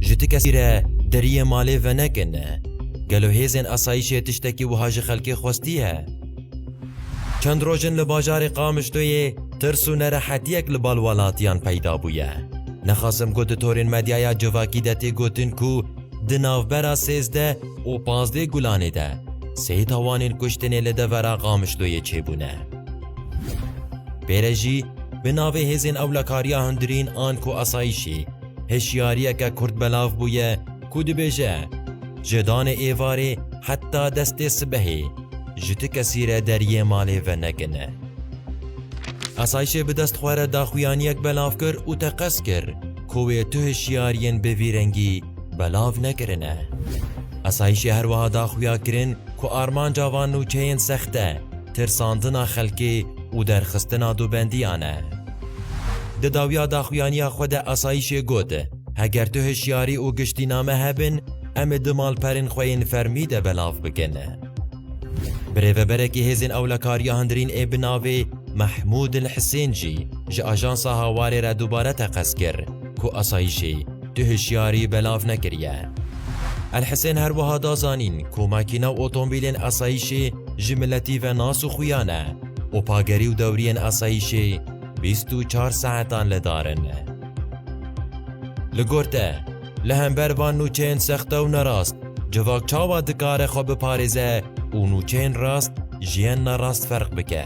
Ji ti kesî re deriyê malê venekin. Gelo hêzên asayîşê tiştekî wiha ji xelkê xwestiye? Çend roj in li bajarê Qamişloyê tirs û nerehetiyek li bal welatiyan peyda bûye. Nixwasim ku di torên medyaya civakî de tê gotin ku di navbera sêzdeh û pazdeh Gulanê de sê tawanên kuştinê li devera Qamişloyê çêbûne. Pê re jî bi navê Hêzên Ewlekariya Hundirîn an ku Asayîşî hişyariyeke kurt belav bûye ku dibêje, Ji danê êvarê heta destê sibehê ji tu kesî re deriyê malê venekin. Asayîşê bi dest xwe re daxuyaniyek belav kir û teqez kir ku wê tu hişyariyên bi vî rengî belav nekirine. Asayîşê her wiha daxuya kirin ku armanca van nûçeyên sext e. tirsandina xelkê û derxistina dûbendiyan e. Di dawiya daxuyaniya xwe de Asayîşê got, Heger tu hişyarî û giştîname hebin, em ê di malperên xwe yên fermî de belav bikin. Bi rêveberekî Hêzên Ewlekariya Hundirîn ê bi navê Mehmûd El Hisên jî ji Ajansa Hawarê re dubare teqez kir ku asayîşê, Tu hişyarî belav nekiriye. El Hisên her wiha da zanîn ku makîna û otomobîlên asayîşê ji miletî ve nas û xuya ne û pagerî û dewriyên asayîşê bîst û çar saetan li dar in. Li gor te, li hember van nûçeyên sexte û nerast, civak çawa dikare xwe biparêze û nûçeyên rast ji yên nerast ferq bike?